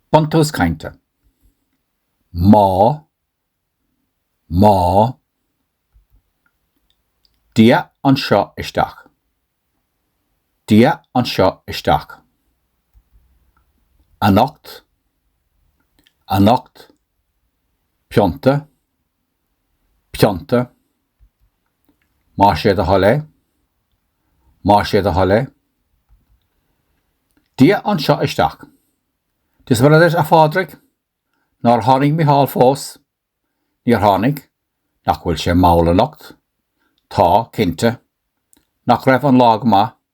Buntús Cainte, Má Má Dia anseo isteach Dia anseo isteach anocht anocht pionta pionta, má sé do thoil é, má sé do thoil é, Dia anseo isteach, Dia is Muire duit a Phádraig? Nár tháinig Micheál fós? Níor tháinig, Nach bhfuil sé mall anocht? Tá, cinnte, Nach raibh an lá go maith?